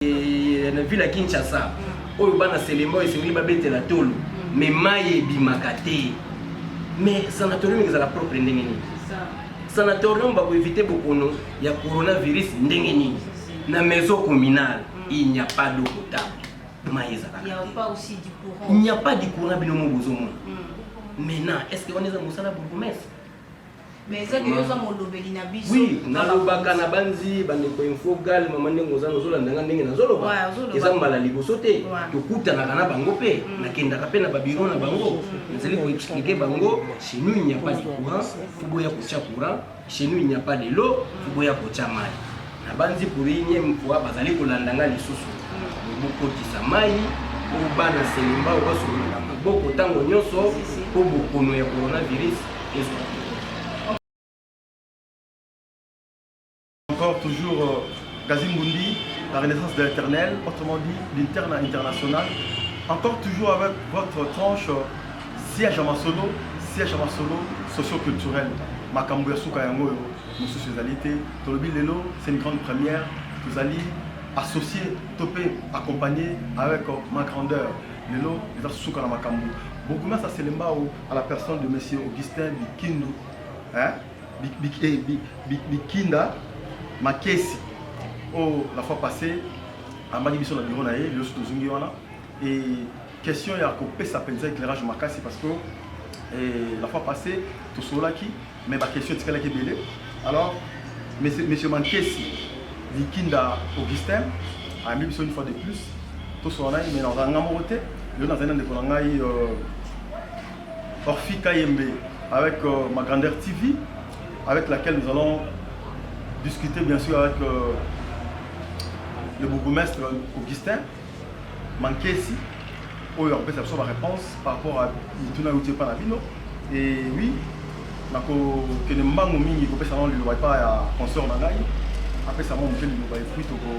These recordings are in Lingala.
eh, na ville ya kinshasa oyo bana selemo esengeli babetela tolo mais mai ebimaka te mais sanatorium ezala propre ndenge nini sanatorium bakoevite bokono ya coronavirus ndenge nini na maison communale il n'y a pas d'eau potable mai ezalaka il n'y a pas du courant bino mo bozomona maintenant est ce que wana eza mosala bourgmestre Mais eza que yo oza molobeli na biso. Oui, nalobaka na banzi bandeko info gal mama ndenge oza nozolanda nga ndenge nazoloba. Ouais, ozoloba. Eza mbala liboso te Ouais. tokutanaka na bango mpe nakendaka mpe na babiro na bango nazali koexplike bango chez nous il n'y a pas de courant fuboya kotya courant chez nous il n'y a pas de l'eau fuboya kotya mai Nabanzi pour unième fois bazali kolanda nga lisusu bokotisa mai po bana selemba oyo basololaka maboko ntango nyonso mpo bokono ya coronavirus ezwa encore toujours euh, Gazimbundi, la renaissance de l'éternel, autrement dit l'interne international. Encore toujours avec votre tranche euh, siège à Masolo, siège à Masolo, socio-culturel. Makambo ya suka yango yo. mosusu ezali te tolobi lelo c'est une grande première tozali associé to mpe accompagné avec ma grandeur lelo eza suka na makambo bokunas ya selembao à la personne de monsieur augustin bikindu hein? bikinda makesi oyo la fois passé amaki biso na biro na ye lelo so tozongi wana e question ya kopesa mpenza éclairage makasi parce que la fois passé tosololaki mais ba question etikalaki ebele alors monsieur mankesi likinda augustin ayambi biso une fois de plus tosolola naye mais nazala nga moko te lelo nazali na ndeko na ngai euh, orfi kayembe avec euh, ma grandeur tv avec laquelle nous allons discuter bien sûr avec euh, le bourgmestre augustin Mankesi oyo akopesa biso ba réponse par rapport à mituna euti epai na bino et oui nakokende mbango mingi kopesa nao liloba epai ya consort na ngai apesa mwa moke liloba epuis toko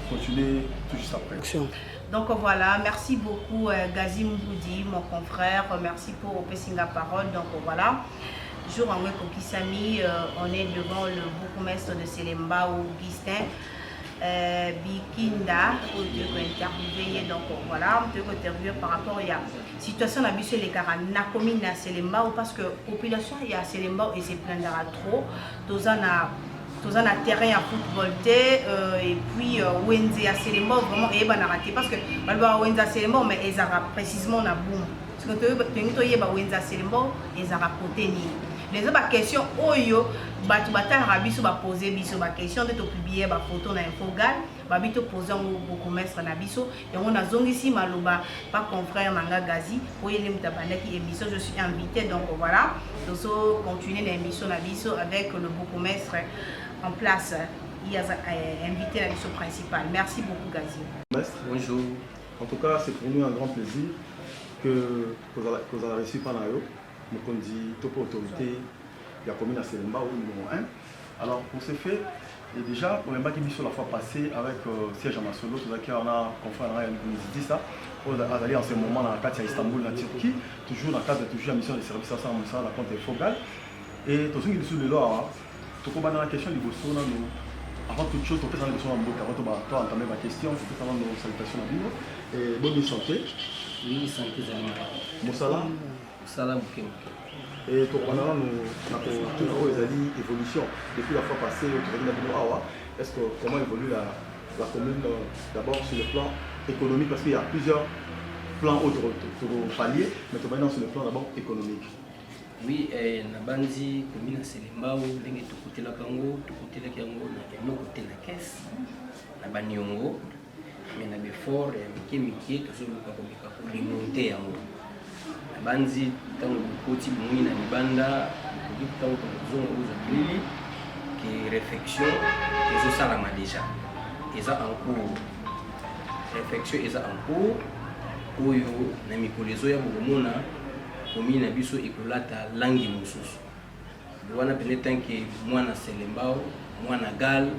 continuer tout juste après Donc voilà, merci beaucoup euh, Gazi Mboudi, mon confrère. Merci pour opesser la parole. Donc voilà, jour en Kokisami, euh, on est devant le bourgmestre de Selemba, Augustin. Euh, Bikinda oyo toyei kointerviewe ye donc voilà toyei kointerviewe par rapport ya situation na biso elekaka na commune ya selembao parce que population ya selembao eseplendaka trop toza na toza na terrain ya football te euh, et puis euh, wenze ya selembao vraiment eyebanaka te parce que balobaka wenze ya selembao mais ezalaka précisement na boum siko tolingi toyeba wenza selembao ezalaka kote nini leza baquestion oyo bato batalaka biso bapose biso baquestion nde topublie bafoto na infogal babi topose yango bokomestre na biso yango nazongisi maloba pa confrère na nga gazi po ye nde moto abandaki émission je suis invité donc voilà tozo continue na émission na biso avec le bokomestre en place ye aza invité na biso principal merci beaucoup gazi bonjour En tout cas, c'est pour nous un grand plaisir que kozala reçu pa na yo mokonzi to mpe autorité ya commune ya Selemba au numéro 1. Alors pour ce fait, et déjà oyambaki biso la fois passée avec euh, siège ya masolo tozalaki wana confrère na ngai ya mizidisa oyo azali en ce moment na kati ya istanbul na turquie toujours na cadre toujours ya mission de service asala mosala na compte ya fogal et tozongi lisusu lelo awa Tokobanda na question liboso nanu avant toute chose topesa liboso na mboka avant toba to entame ba question topesa nanu salutation na bino eh, boni santé oui santé ezali malamu mosala mosala moke moke eh, tokobanda nanu na kotuna oyo ezali évolution depuis la fois passée oyo tozali na bino awa est ce que comment évolue la, la commune euh, d'abord sur le plan économique parce qu'il y a plusieurs plans oyo tokopallier mais tobandi nano sur le plan d'abord économique Oui, eh, nabanzi commune ya Selembao ndenge tokotelaka yango tokotelaki yango na eloko te na caisse na baniongo mais na befort ya mike mike tozoluka komeka koremonte yango nabanzi ntango bokoti bomoi na libanda okoki ntango tokozonga kozwa bilili ke réflexion ezosalama déjà eza en cours réflexion eza en cours oyo na mikolo ezoya bokomona Commune na biso ekolata langi mosusu wana pene tanke mwana selembao mwana gal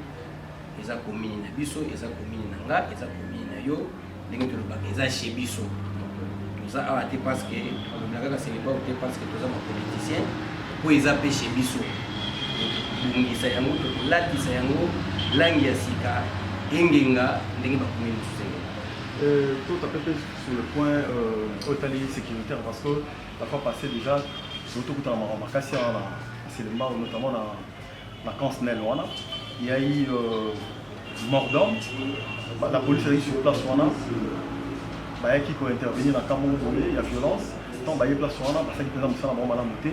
eza commune na biso eza commune na nga eza commune na yo ndenge tolobaka eza chez biso toza awa te parce que tolobela kaka selembao te parce que toza bapoliticien po eza mpe chez biso tobongisa yango tokolatisa yango langi ya sika engenga ndenge bakomi mosusu engenga sur le point euh, otali sécuritaire parce que la fois passée déjà tokutana makambo makasi wana na selembao notamment na na camp snel wana yai euh, mordant la police azalaki sur place wana bayaki kointervenir na camp moko boye ya violence ntango baye place wana basalaki mpenza mosala bango malamu te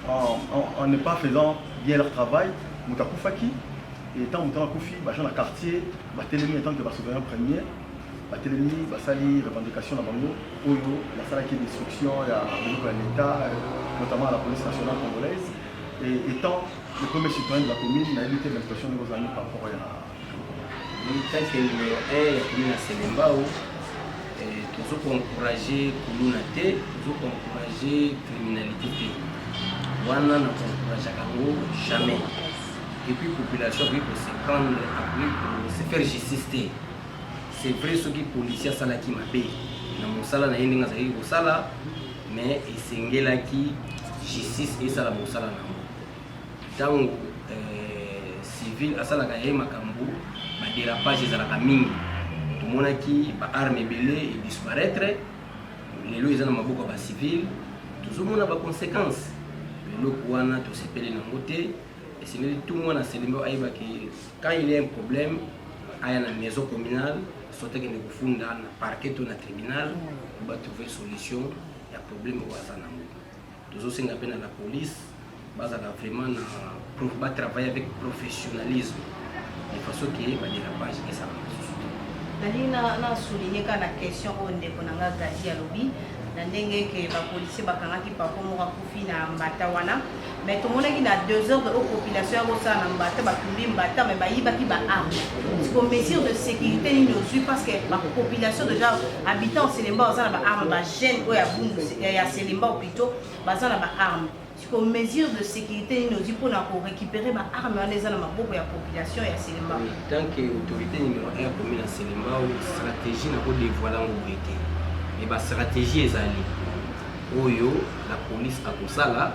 en ne pas faisant bien leur travail moto akufaki et ntango moto wana akufi baja na quartier batelemi en tant que basouverien premier batelemi basali revendication na bango oyo basalaki destruction ya biloko ya leta notamment la police nationale congolaise et étant le premier citoyen de la commune nayebi te l'invitation ndenge ozalaki par rapport ya tanke numero 1 ya commune ya selembao tozo koencourage kuluna te tozo koencourage criminalité te wana na koencourageaka yango jamais epuis population akoki koseprendre akoki kose faire justice te c'est vrai soki policier asalaki mabe na mosala na ye ndenge azalaki kosala mais esengelaki justice esala mosala na yango ntango euh, civil asalaka ye makambo baderapage ezalaka mingi tomonaki baarme ebele edisparaitre lelo eza na maboko ya bacivil tozomona baconséquence eloko wana tosepeli nango te esengeli tu mwana selembao ayebaki Quand il y a un problème, aya na maison communale, soit akende kofunda na parquet to na tribunal, pour ba trouver solution ya problème oyo aza nango. Tozosenga mpe na la police bazala vraiment na pro- ba travailler avec professionnalisme de façon que ba dérapage esala lisusu te. nalingi na- na souligne kaka na question oyo ndeko na nga gazi alobi na ndenge ke bapolisier bakangaki pako moko akufi na mbata wana mais tomonaki na desordre oyo population yango osala na mbata batumbi mbata mais bayibaki ba arme siko mesure de sécurité nini ozwi parce que bapopulation déjà habitant selemba baza na ba arme bajeune oyo ya bundu ya selemba plutôt baza na ba arme siko mesure de sécurité nini ozwi mpona korécupérer ba arme wana eza na maboko ya population ya selemba tant que autorité numéro 1 commune ya selemba stratégie na kodévoile yango boye te e bastratégie ezali oyo la police akosala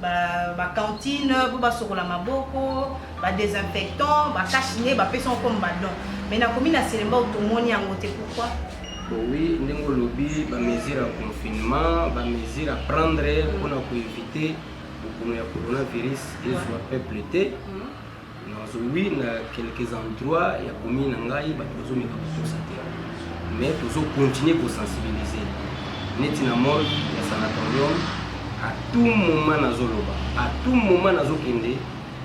ba cantine mpo basokola maboko ba désinfectant ba cache ne bapesa yango comme badon mais nakomi na selembao tomoni yango te pourquoi oui ndenge olobi bamesure ya confinement bamesure à prendre mpona koevite bokono ya coronavirus ezwa peuple te mm. nazongui na quelques endroits ya commune na ngai bato bazomeka kokosa te mais tozokontinue kosensibilize neti na mol ya sanatorium à tout moment nazoloba à tout moment nazokende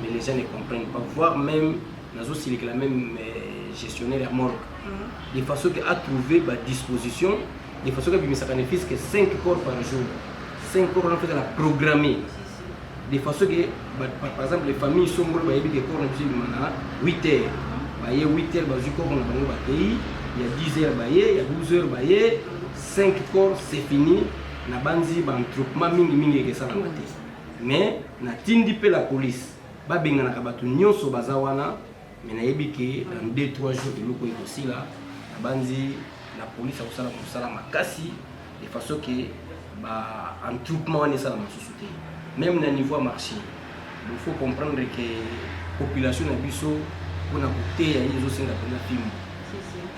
mais les gens ne comprennent pas voire même nazosilikela même euh, gestionnaire ya morgue mhm. de façon que atrouver badisposition de façon que abimisaka ne fils que 5 corps par jour 5 corps wana fekala programme de façon que par exemple les familles songolo bayebi ke corps na biso ebima na 8 heures baye 8 heures bazwi corps na bango bakeyi ya 10 heures baye ya 12 heures baye 5 corps c'est fini nabanzi baentroupement mingi mingi ekesalama te mais natindi mpe la police babenganaka bato nyonso baza wana mais nayebi ke dans 2 3 jours eloko ekosila nabanzi la police akosala mosala makasi de façon ke ba entroupement wana esala mosusu te même na niveau ya marché il faut comprendre ke population na biso mpona koteya ye ezosenga mpena fimbo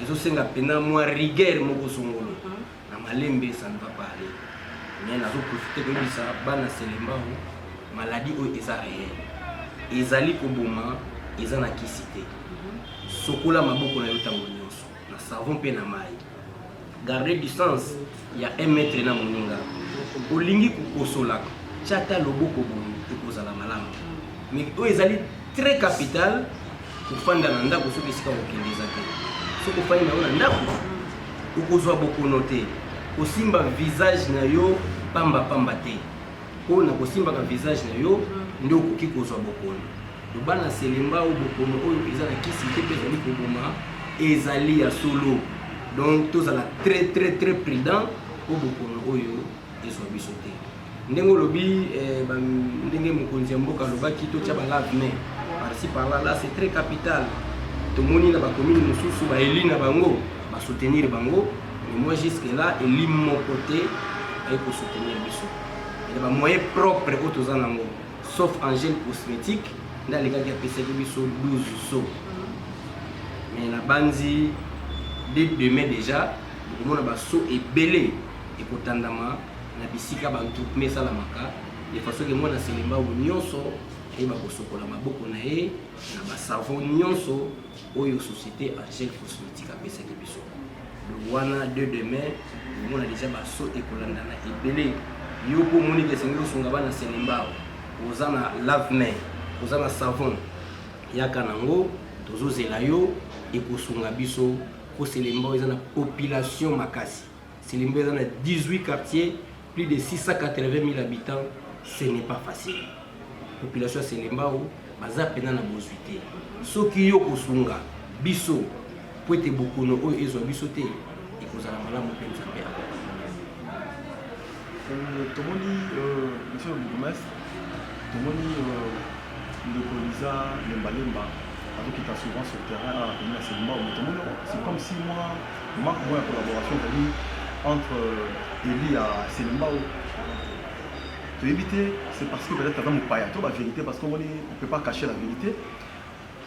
ezosenga mpena mwa rigueur moko songolo na malembe ça ne va pas aller mais nazo profiter koyebisa bana selembao maladie oyo eza réel ezali koboma eza na kisi te sokola maboko na yo ntango nyonso na savon mpe na mai garde distance ya 1 mètre na moninga olingi kokosola tya ata loboko boye ekozala malamu mais oyo ezali Très capital kofanda na ndako soki esika kokende eza te. Soki ofandi na yo na ndako okozwa bokono te, kosimba visage na yo pamba pamba te, mpo na kosimbaka visage na yo nde okoki kozwa bokono. Loba na selemba oyo bokono oyo eza na kisi te mpe ezali koboma ezali ya solo, donc tozala très très très prudent mpo bokono oyo ezwa biso te ndenge olobi eh, ndenge mokonzi ya mboka alobaki totya balavne parci parla la c'est très capital tomoni na bakomini mosusu baeli na bango basoutenir bango mais moi jusque là eli moko te aye kosoutenir biso ena bamoyen propre oyo toza nango sauf angel cosmétique nde alekaki apesaki biso 12 so mais nabanzi de demain déjà okomona baso ebele ekotandama na bisika bantrupme esalamaka de façon ke mwana selembao nyonso ayeba kosokola maboko na ye na basavo nyonso oyo société angel cosmétique apesaki biso donc wana de demain omona deja baso ekolandana ebele yo mpo omoni ke esengeli osunga bana selembao oza na lavemain oza na savon yaka nango tozozela yo ekosunga biso mpo selembao eza na population makasi Silimbe eza na 18 quartier plus de 680000 habitants ce n'est pas facile population ya selembao baza mpena na bozwi te soki yo kosunga biso mpo ete bokono oyo ezwa biso te ekozala malamu mpe nzambe Euh, tomoni euh, monsieur le bourgmestre tomoni euh, ndeko liza lembalemba azokita souvent sur terrain na commune ya selembao mais tomoni c'est comme si moi marque moi ya collaboration ezali entre eli ya selembao toyebi te c'est parce que peut-être aza mopaya to bavérité parce que omoni on peut pas cacher la vérité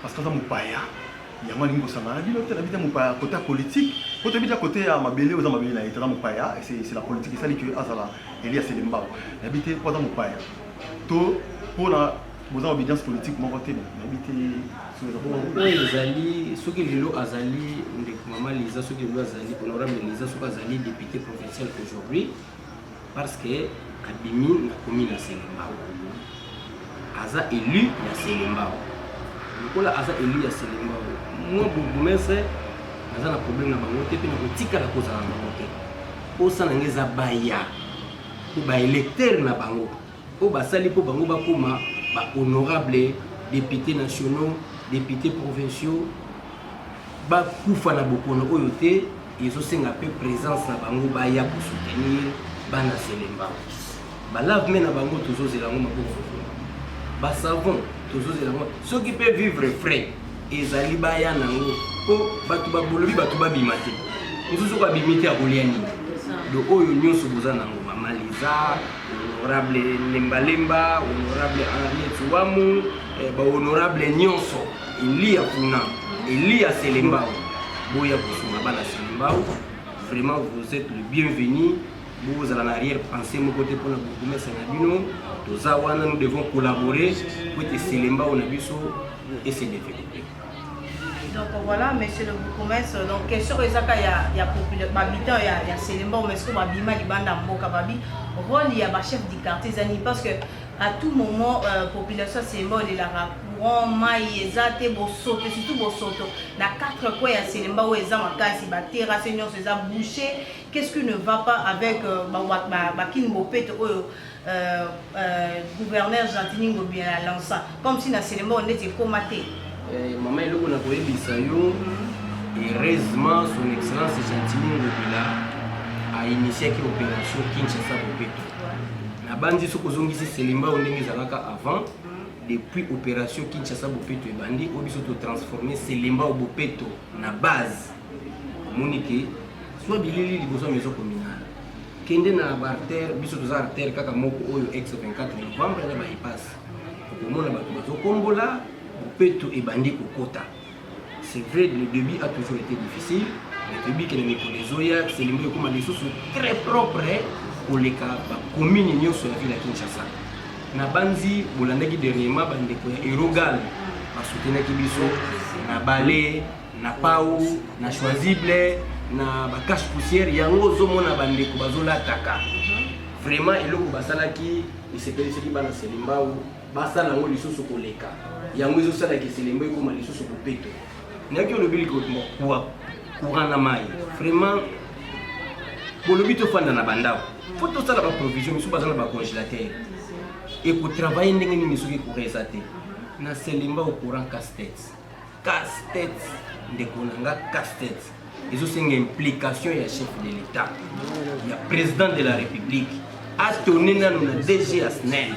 parce que aza mopaya yango alingi kosangana na bino te na bita mopaya kote ya politike po toyebi ta kote ya mabele oza mabele na ye te aza mopaya c'est la politique esali ke azala elia selembao nayebi te po aza mopaya to mpona boza obedience politique moko te nayebi te oyo ezali soki lelo azali ndeko mama liza soki lelo azali honorable liza soki azali député provincial aujourd'hui parce que abimi na komi na selembao aza élu ya selembao lokola aza élu ya selembao moi bourgmestre naza na problème na bango te mpe nakotikala kozala na bango te mposa na ngai eza baya mpo baélecteur na bango oyo basali mpo bango bakóma bahonorable député nationaux député provinciaux bakufa na bokono oyo te ezo senga pe presence na bango baya ko soutenir bana Zelemba ba lave me na bango tozo zela yango maboko ba savon tozo zela yango soki pe vivre frais ezali baya nango po bato babolobi bato babima te mosusu ko abimi te akolia nini do oyo nyonso boza nango mama liza honorable lembalemba honorable henriette wamu eh, ba honorable nyonso Eliya kuna, Eliya Selembao, boya kosunga bana Selembao. Vraiment, vous êtes le bienvenu. bozala na arrière pensée moko te mpona bourgmestre na bino toza wana nous devons collaborer po ete selembao na biso ese développer donc voilà monsieur le bourgmestre donc question oyo ezaka ya, ya bahabitant ya, ya selembao mais soki babima libanda mboka babi rôle ya bachef du quartier ezani parce que A tout moment euh, population semba olelaka courant mai eza te bosoto surtout bosoto na quatre coin ya selemba oyo eza makasi baterrasse nyonso eza bouche qu'est ce qui ne va pas avec euh, bakini bopeto oyo euh, euh, gouverneur gentini ngobi alança comme si na selemba oyo ndeti ekoma te eh, mama eloko na koyebisa yo heureusement son excellence gentini ngobila ainitiaki opération kinshasa bopeto nabanzi soki ozongisi selimbao ndenge ezalaka avant depuis opération kinshasa bopeto ebandi oyo biso totransforme selimbao bopeto na base omoni ke zwa bilili liboso ya maison communale kende na baartère biso toza artère kaka moko oyo ex 24 novembre na baipase okomona bato bazokombola bopeto ebandi kokota C'est vrai, le début a toujours été difficile. Mais toyebi que na mikolo ezoya selimo ekoma lisusu très propre eh, koleka bakomini nyonso ya ville ya kinshasa nabanzi bolandaki dernièrement bandeko ya erogal basutenaki biso na bale na pau na choisible na bacache poussière yango ozomona bandeko bazolataka vraiment eloko basalaki esepelisaki bana selimbau basala yango lisusu koleka yango ezosala kiselembo ekoma lisusu bopeto nayaki olobi likokua courant na mai vraiment bolobi tofanda na bandako mpo tosala baprovision misu baza na bacongélateur ekotravaille ndenge nini soki courant eza te na selemba au courant casse-tête Casse tête ndeko na nga casse tête ezosenga implication ya chef de l'etat ya président de la république atone nano na dg ya snel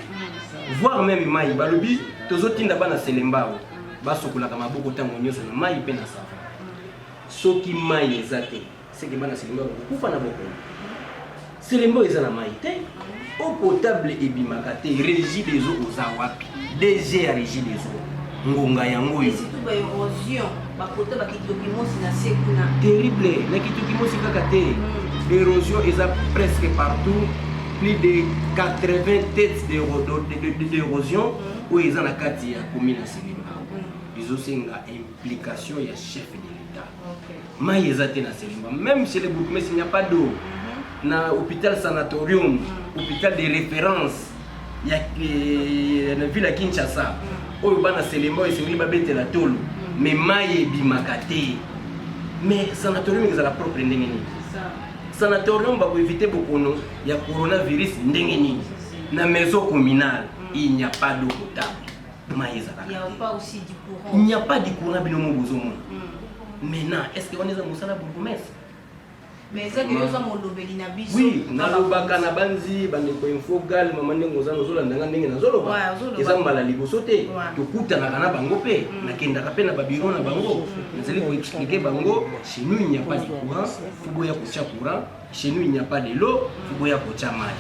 voire meme mai balobi tozotinda bana selembao basokolaka maboko ntango nyonso na mai mpe na sava soki mai eza te Seke bana Selemba bako kufa na bokono. Selemba oyo eza na mayi te. Eau potable ebimaka te. Regie des eaux oza wapi? DG ya Regie des eaux. Ngonga yango oyo. Surtout ba érosion, ba kota ba kitoki mosi na se kuna. Terrible, na kitoki mosi kaka te. Mm. L'érosion eza presque partout. Plus de 80 têtes d'érosion mm. oyo eza na kati ya commune ya Selemba. Mm. Ezosenga implication ya chef de Mayi eza te na Selimba. Même chez les bourgmestres, il n'y a pas d'eau. Mhm. Na hôpital sanatorium, mhm. hôpital de référence ya eh, na ville ya Kinshasa. Mhm. Oyo bana Selimba esengeli babetela tolo. Mais mayi ebimaka te. Mais sanatorium ezala propre ndenge nini? Sanatorium ba ko éviter bokono ya coronavirus ndenge nini? Na maison communale, il n'y a pas d'eau potable. mai ezalaka te il n'y a pas du courant bino mo bozomona hmm. maintenant est ce que wana eza mosala bourgmestre oui nalobaka na banzi bandeko info gal mama ndenge oza nozolanda nga ndenge nazoloba eza mbala liboso te tokutanaka na bango mpe mm. nakendaka mpe na babiro na bango mm. nazali koexplike bango chez nous il n'y a pas de courant foboya kotya courant Chez nous il n'y a pas de l'eau, boya kotia mai.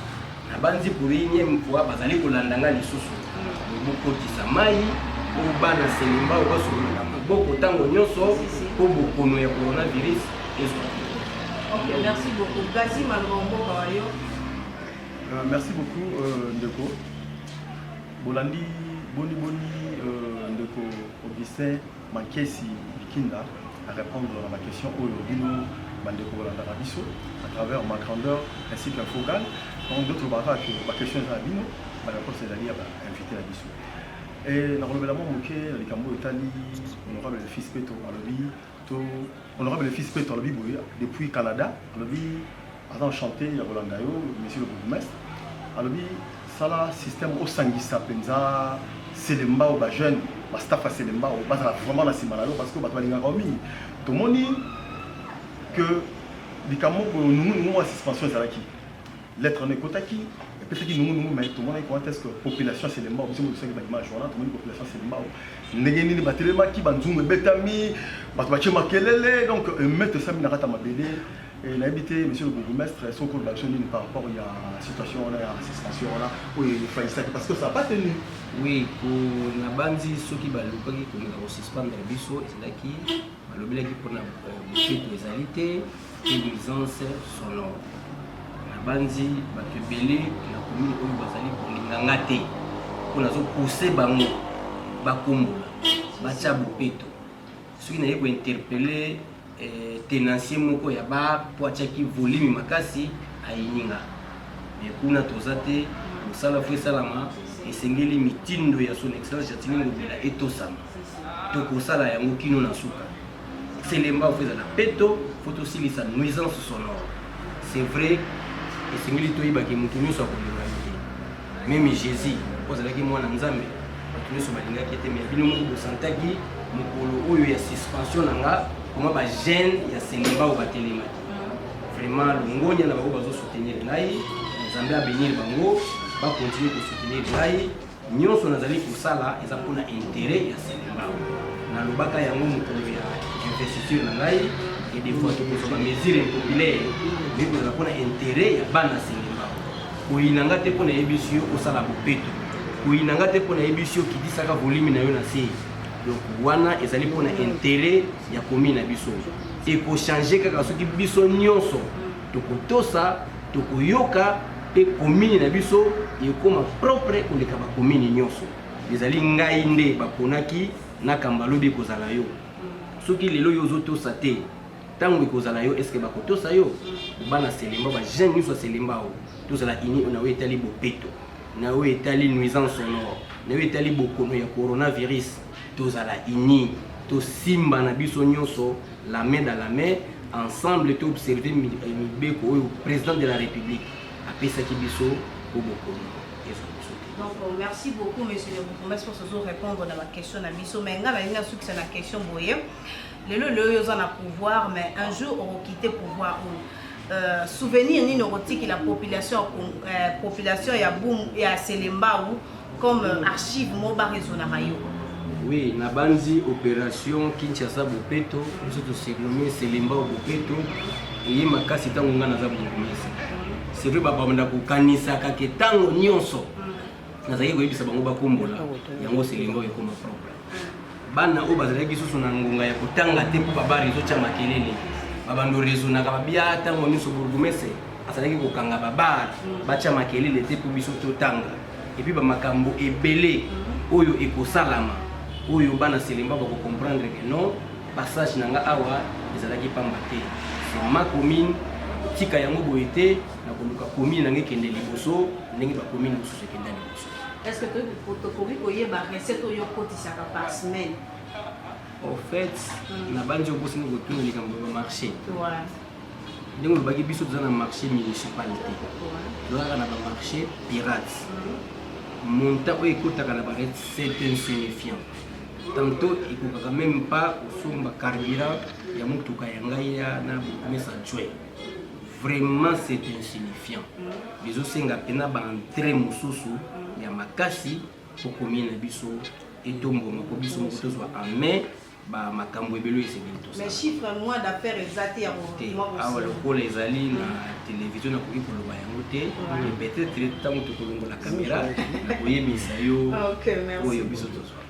Nabanzi pour unième fois bazali kolanda ngai lisusu. Bokotisa mai oyo bana selemba oyo basololaka maboko ntango nyonso mpo bokono ya coronavirus ezwa. Ok, merci beaucoup. Gazi Malonga mboka wa yo. Euh, merci beaucoup euh, ndeko. Bolandi boni boni euh, ndeko Augustin Mankesi Bikinda a répondre na ba questions oyo bino bandeko bolandaka biso à travers ma grandeur ainsi qu'un faux gal donc d'autres baraka que ba questions eza na bino ba réponses ezali ya ba invité na biso et nakolobela mwa moke na likambo oyo etali honorable le fils peto alobi to honorable le fils peto alobi boye depuis canada alobi aza na chante ya kolanda yo monsieur le bourgmestre alobi sala système osangisa mpenza selembao ba jeune ba staff ya selembao bazala vraiment na nsima na yo parce que bato balingaka yo mingi tomoni que likambo moko nungunungu ya suspension ezalaki lettre na ekotaki epesaki nungunungu mai tomonaki comment est ce que population ya selembao biso moko tosaki baimage wana tomoni population ya selembao ndenge nini batelemaki banzungu ebetami bato batye makelele donc emete esami na kati ya mabele Et nayebi te monsieur le bourgmestre soki okoloba biso nini par rapport ya situation wana ya suspension wana oyo efalisaki parce que ça pas tenu oui nabanzi soki balukaki kolinga kosuspendre biso ezalaki balobelaki mpona boketo euh, ezali te mpe nuisance sonore nabanzi bato ebele na komini oyo bazali kolinga nga te mpo nazopousse bango bakombola batya bopeto soki naye ko interpeller eh, tenancier moko ya ba po atiaki volume makasi ayininga me kuna toza te mosala fo esalama esengeli mitindo ya son excellence jatini ngobila etosama tokosala yango kino na suka selemba fo ezala peto fo tosilisa nuisance sonore c'est vrai esengeli toyebaki moto nyonso akolinga Meme Jesus po azalaki mwana Nzambe, bato nyonso balingaki ye te, mais bino moko bosantaki mokolo oyo ya suspension na nga koma ba jeune ya Selemba oyo batelemaki. Vraiment longonya na bango bazo soutenir ngai, Nzambe abenir bango, ba continuer ko soutenir ngai. Nyonso nazali kosala eza mpo na interet ya Selemba. Nalobaka yango mokolo ya investiture na ngai et des fois tokozwa ba mesures impopulaires mais ekozala mpo na interet ya bana Selemba. Oyina nga te mpo nayebisi yo osala bopeto. Oyina nga te mpo nayebisi yo kitisaka volimi na yo na se. Donc wana ezali mpo na interet ya komi na biso. Ekochange kaka soki biso nyonso tokotosa, tokoyoka mpe komini na biso ekoma propre koleka bakomini nyonso. Ezali ngai nde baponaki na kambalobi ekozala yo. Soki lelo yo ozotosa te tango ekozala yo eske bakotosa yo bana selemba ba jeune nyonso ya selemba oyo tozala ini na oyo etali bopeto na oyo etali nuisance sonore na oyo etali bokono ya coronavirus tozala ini tosimba na biso nyonso la main dans la main ensemble to observe eh, mibeko oyo président de la république apesaki biso po bokono ezala biso te donc euh, merci beaucoup monsieur le bourgmestre ozo répondre na baquestion na biso mais ngai nalingi asukisa na question boye lelo lelo yo oza na pouvoir mais un jour okokite pouvoir oyo euh, souvenir nini okotikila population, euh, population ya, boum, ya selembau comme euh, archive mo baresonaka yo oui nabanzi opération kinshasa bopeto biso tosurnomme selembao bopeto eye makasi ntango ngai naza bokomisi c'est vrai babanda kokanisaka ke ntango nyonso mm. nazalaki koyebisa bango bakombola ah, yango selembao ekoma propre bana oyo bazalaki susu na ngonga ya kotanga te mpo babare ezotya makelele babando raisonaka babia ntango nyonso bourgumese azalaki kokanga babare mm. batya makelele te mpo biso totanga epuis bamakambo ebele mm. oyo ekosalama oyo bana selemba bakokomprendre ke non passage na nga awa ezalaki pamba te ma commune tika yango boye te nakoluka commune nange ekende liboso ndenge bacommune mosusu ekenda liboso Est-ce que toyebi tokoki koyeba recette oyo okotisaka par semaine au fait mm. nabanzi okosini kotuna likambo ya marché ndenge olobaki biso toza na marché municipal te tozalaka na bamarché pirate mm. montant oyo ekotaka na barete c'est insignifiant tantôt ekokaka même pas kosomba carburant ya motuka ya ngai ya na bourgmestre adjoint vraiment c'est insignifiant bizosenga mpena baentre mosusu ya makasi mpo komie na biso etomboma mpo biso moko tozwa en main makambo ebele esengeli tosaaawa lokola ezali na televizio nakoki koloba yango te peut-être ntango tokolongola kamera nakoyebisa yo oyo biso tozwaka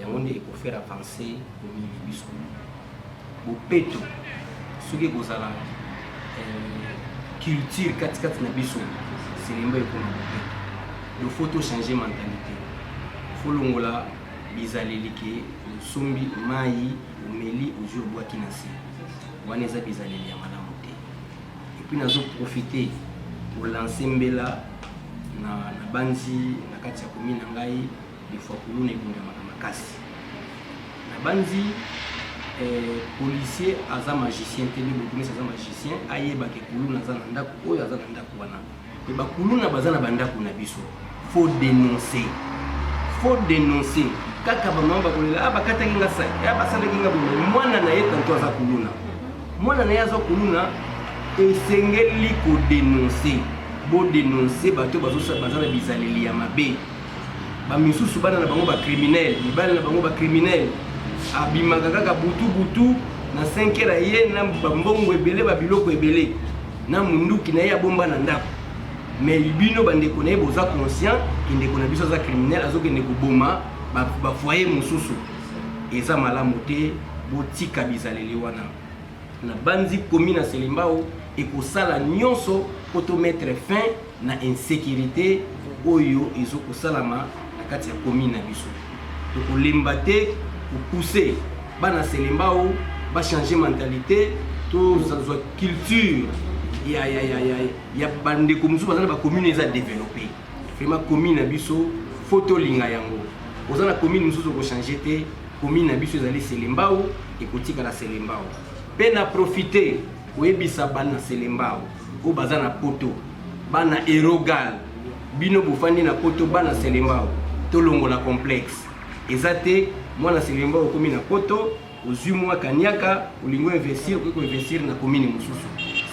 yango nde eko faire avancer commune na biso bopeto soki ekozala euh, culture katikati na biso selemba ekoma bopeto donc faut tochange mentalité folongola bizaleli ke osombi mai omeli ozwi obwaki na se wana eza bizaleli ya malamu te epuis nazoprofite kolanse mbela na, na banzi na kati ya komi na ngai de fois kuluna ebungamaka makasi nabanzi eh, policier aza magicien te nde bokomisi aza magicien ayebaka kuluna aza na ndako oyo aza na ndako wana mpe bakuluna baza na bandako na biso faut dénoncer faut dénoncer kaka bamama bakolela ah, bakataki nga sai ah, basalaki nga boye mwana na ye tanto aza kuluna mwana na ye aza kuluna esengeli kodenonse bodenonse bato baza na bizaleli ya mabe ba misusu bana na bango ba criminel mibali na bango ba criminel abimaka kaka butu butu na 5 heure aye na bambongo ebele ba biloko ebele na munduki na ye abomba na ndako mais bino bandeko na ye boza conscient ke ndeko na biso aza criminel azokende koboma bafoye ba mosusu eza malamu te botika bizaleli wana nabanzi komi na selembao ekosala nyonso mpo tomettre fin na insecurite oyo ezokosalama na kati ya commune na biso tokolemba te kopousse bana selembao bachange mentalité tozwa culture ya, ya, ya, ya, ya bandeko mosusu baza na bacommune eza développe vraiment commune na biso fo tolinga yango oza na commune mosusu okochange te commune na biso ezali selembao ekotikala selembao mpe na profite koyebisa bana selembao oyo baza na poto bana erogal bino bofandi na poto bana selembao tolongola complexe eza te mwana selembao okomi na poto ozwi mwa kaniaka olingi oinvestir okoki koinvestir na komini mosusu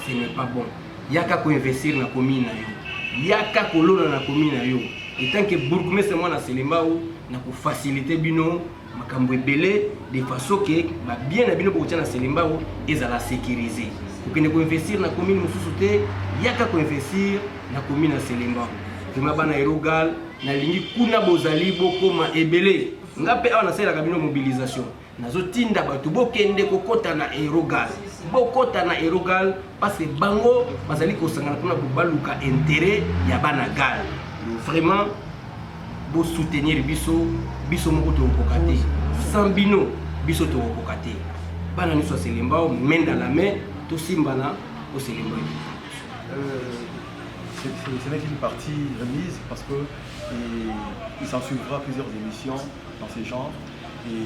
ce n'est pas bon yaka koinvestir na komini na yo yaka kolona na komini na yo etanke bourgmestre mwana selembao na kofasilite bino makambo ebele de façon ke ba bien na bino bokotia na Selembao ezala sécurisé kokende koinvestir na commune mosusu te yaka koinvestir na commune ya Selembao vrima bana erogal nalingi kuna bozali bokoma ebele nga mpe awa nasalelaka bino mobilisation nazotinda bato bokende kokota na erogal bokota na erogal parce que bango bazali kosangana mpona baluka interet ya bana gal vraiment bosoutenir biso biso moko tokokoka te sans bino biso tokokoka te bana nyonso ya selembao main dans la main tosimbana o selembao ce n'est qu'une partie remise parce que il, il s'en suivra plusieurs émissions dans ces genres et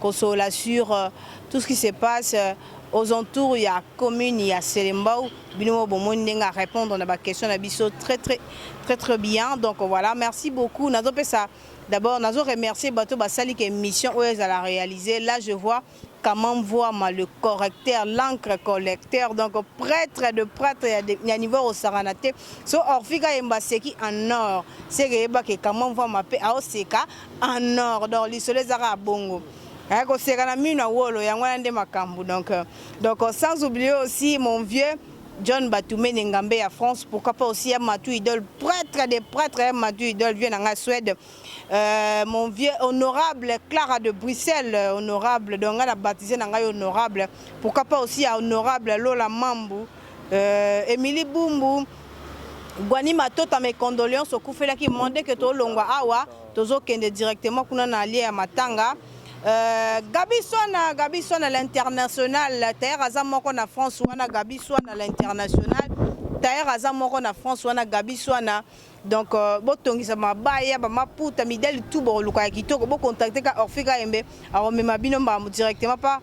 kosolola sur tout ce qui se passe aux entours ya commune ya Selembao bino mo bomoni ndenge a répondre na ba question na biso très très très très bien donc voilà merci beaucoup nazo pesa d'abord nazo remercier bato basali ke mission oyo ezala réaliser là je vois Kamam Voama, le correcteur, l'encre collecteur, donc prêtre de prêtre, il y a niveau au Saranate. So Orfika Embaseki en or, c'est que Kamam Voama pe Aoseka. en or donc lisolo eza kaka bongo eh, koseka na mino ya wolo yango wana nde makambo donc euh, donc euh, sans oublier aussi mon vieux John Batumene Ngambe ya France, pourquoi pas aussi Matou Idol, prêtre des prêtres, Matou Idol vient en Suède. Euh, mon vieux honorable Clara de Bruxelles, euh, honorable, donc on a baptisé Nangai honorable. Pourquoi pas aussi honorable Lola Mambu, Euh, Emily Bumbu, Guani Matota, mes condoléances okufelaki monde que tolongwa awa tozokende directement kuna na lie ya matanga Euh, Gabi Swana, Gabi Swana l'international. Tailleur aza moko na France wana Gabi Swana l'international. Tailleur aza moko na France wana Gabi Swana. Donc euh, botongisa mabaya ba maputa midali tout bo luka kitoko bo contacter ka Orfika Embe aromema bino mbambo directement pa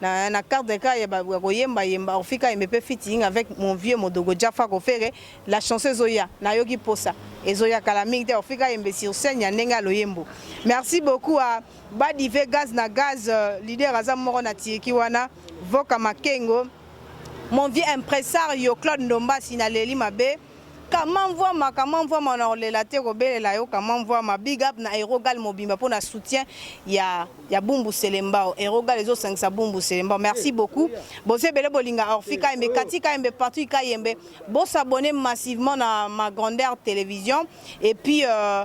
na, na carte de cas ya koyemba yemba ofika yembe pe fitting avec mon vieux modogo Jaffa Kofere la chanson ezoya nayoki posa ezoya kala mingi te ofika yembe sur scène ya ndenge ya loyembo merci beaucoup à Badive Gaz na Gaz euh, leader aza moko na Tiriki wana Voka Makengo mon vieux impresario Claude Ndombasi na leli mabe Kama mvuama kama mvuama na kolela te kobelela yo kama mvuama big up na erogal mobimba mpo na soutien ya ya bumbu selembao erogal ezo sangisa bumbu selembao merci beaucoup bozo ebele bolinga orfi kayembe kati kayembe partout kayembe bo s'abonner massivement na ma grandeur télévision et puis euh,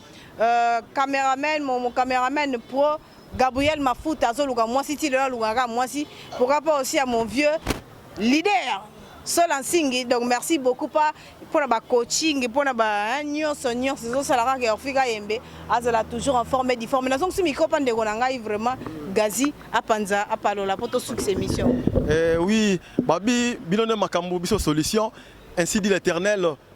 Euh, cameraman mon, mon cameraman pro Gabriel Mafuta azoluka mwasi ti lelo alukaka mwasi pourquoi pas aussi à mon vieux leader Sola Nsingi donc merci beaucoup pas mpona ba coaching mpona ba nyonso nyonso ezosala kaka ya ofika yembe azala toujours en forme di forme nazongisi mikro mpa ndeko na ngai vraiment gazi apanza apalola mpo tosukisa émission eh, oui babi bino nde makambo biso solution ainsi dit l'éternel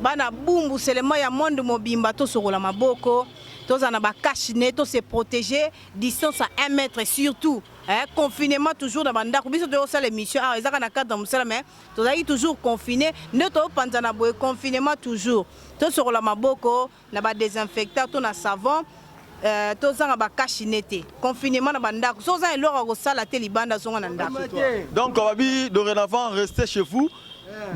Bana bumbu seulement ya monde mobimba tosokola maboko tozala na ba cache ne to se protéger distance à 1 mètre surtout eh, confinement toujours na bandako biso toyosala émission awa ezaka na cadre ya mosala mais tozalaki toujours confine nde toyopanzana boye confinement toujours tosokola maboko na ba desinfectant to na savon Euh, tozanga bakashine te confinement na bandako so oza eloko ya kosala te libanda zonga na ndako donc babi dorénavant reste chez vous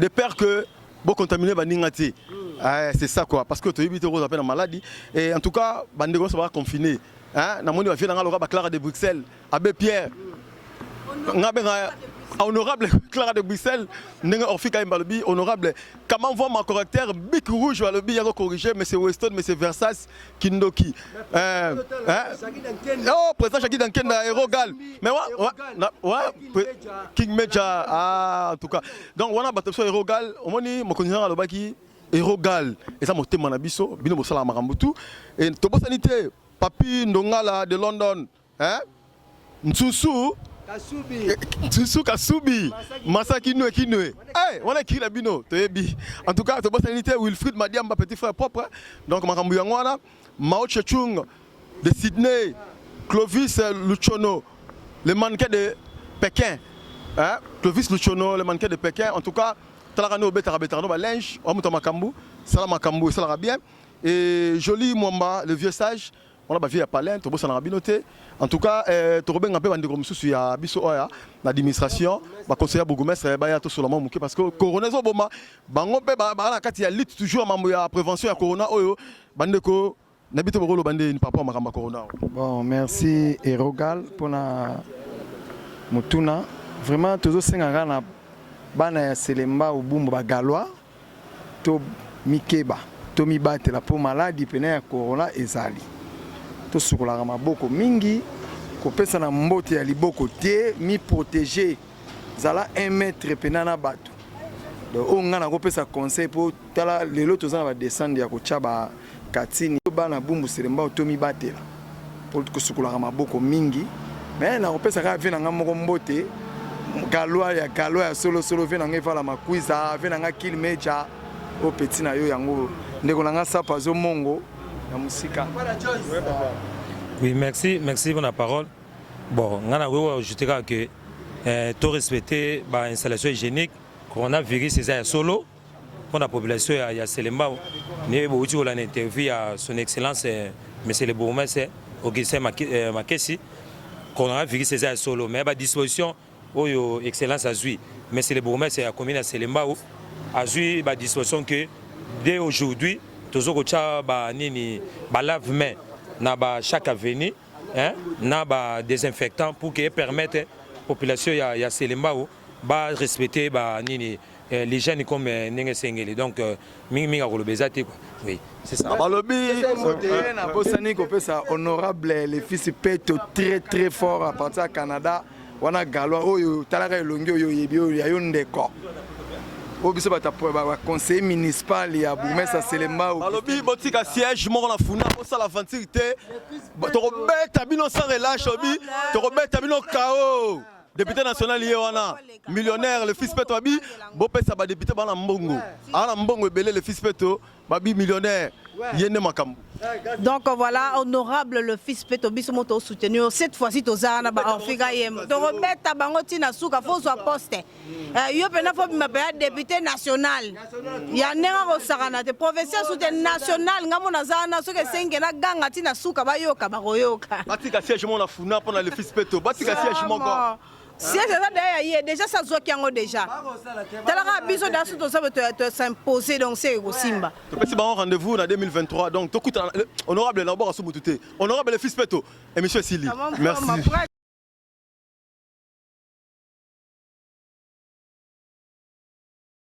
de peur que bocontamine baninga te eh, c'est ça quoi parce que toyebi te okozwa mpe na maladi et en tout cas bandeko nyonso baa confine namoni bavie na ngai loka baclara de bruxelles Abbe Pierre, nga benga honorable Clara de Bruxelles, ndenge Orphy Kaimba lobi honorable comment voit ma correcteur bic rouge alobi yako corriger monsieur Weston monsieur Versace Kindoki euh, hein? oh président Jackie Dankenda héros gal mais wa, wa, na, wa King Major ah en tout cas donc wana bato biso héros gal omoni mokonzi nanga alobaki héros gal eza motema na biso bino bosalaka makambo tout et tobosani te papi ndongala de London Hein? Nsusu Kasubi. Eh, Nsusu Kasubi. Masa Kinwe Kinwe. Eh, wana ekiri na bino toyebi. En tout cas, tobosani te Wilfried Madiamba petit frère propre. Donc makambo yango wana Mao Chechung de Sydney, Clovis Luchono, le mannequin de Pékin. Hein? Clovis Luchono, le mannequin de Pékin. En tout cas, talaka no betaka betaka no ba linge, wa muta makambo, sala makambo, sala bien. Et Jolie Mwamba, le vieux sage, wana ba vie ya palin tobosanaka bino te en tout cas eh, tokobenga mpe bandeko mosusu ya biso oya na administration baconseil ya bourgmestre baya tosola mwa moke parce que corona ezoboma bango mpe baa na kati ya lutte toujours mambo ya prévention ya corona oyo bandeko na bito bokoloba nde ni papa makambo ya corona bon merci erogal mpona motuna vraiment tozosengaka na bana ya selemba obumbu bagalois Tomikeba, tomibatela mpo maladi pene ya corona ezali. Tosukolaka maboko mingi, kopesana mbote ya liboko te, mi proteger, zala un mètre pena na bato. Donc oyo nga nakopesa conseil mpo tala lelo toza na ba descente ya kotia ba Katini to bana bumbu selembao to mibatela po kosukolaka maboko mingi me na kopesa kaka vie na nga moko mbote kalwa ya kalwa ya solo solo vie na nga evala makwiza vie na nga kil meja o peti na yo yango ndeko na nga sapa zo mongo na mosika oui merci merci pour la parole bon nga na koki ajouter kaka que eh, to respecter ba installation hygiénique coronavirus eza ya solo mpo na population ya, ya Selembao nde bouti kolanda interview ya son excellence eh, monsieur le bourgmestre Augustin eh, Makesi kolona vikisi eza ya solo mais badisposition oyo excellence azwi monsieur le bourgmestre ya commune ya Selembao azwi badisposition que dès aujourd'hui tozo kotya banini balave main na ba chaque avenue hein, na ba désinfectant pour que epermettre population ya, ya Selembao ba respecter ba nini eh, les jeunes comme eh, ndenge esengeli donc euh, mingi mingi akoloba eza te quoi oui c'est ça balobi bosani kopesa honorable le fils peto très très fort à partir ya canada wana galois oyo talaka elongi oyo oyebi oyo ya yo ndeko oyo biso baconseiller municipal ya bourgmestre selembao balobi botika siège moko na funa bosala aventure te tokobeta bino sans relâche obi tokobeta bino kao Depute national ye wana millionnaire le fils peto abi bopesa ba depute bana mbongo ana mbongo ebele le fils peto babi millionnaire ye nde makambo donc voilà honorable le fils peto biso mo tosoutenir cette fois-ci toza wana baorfika ye tokobeta bango ntina suka fozwa poste eh, yo mpena fobima mpe ya depute national ya ndenge akosakana te professeur soute national ngambo naza wana soki esenge na ganga ti na suka bayoka bakoyoka batika siège moko na funa mpo na le fils peto batika siège moko siège eza deya ya ye déjà sa zwaki yango déjà talaka biso deya so toza tosimposer donc se ekosimba topesi bango rendez-vous na 2023 donc tokutana honorable na obaka so motu te honorable le fils peto émission esili merci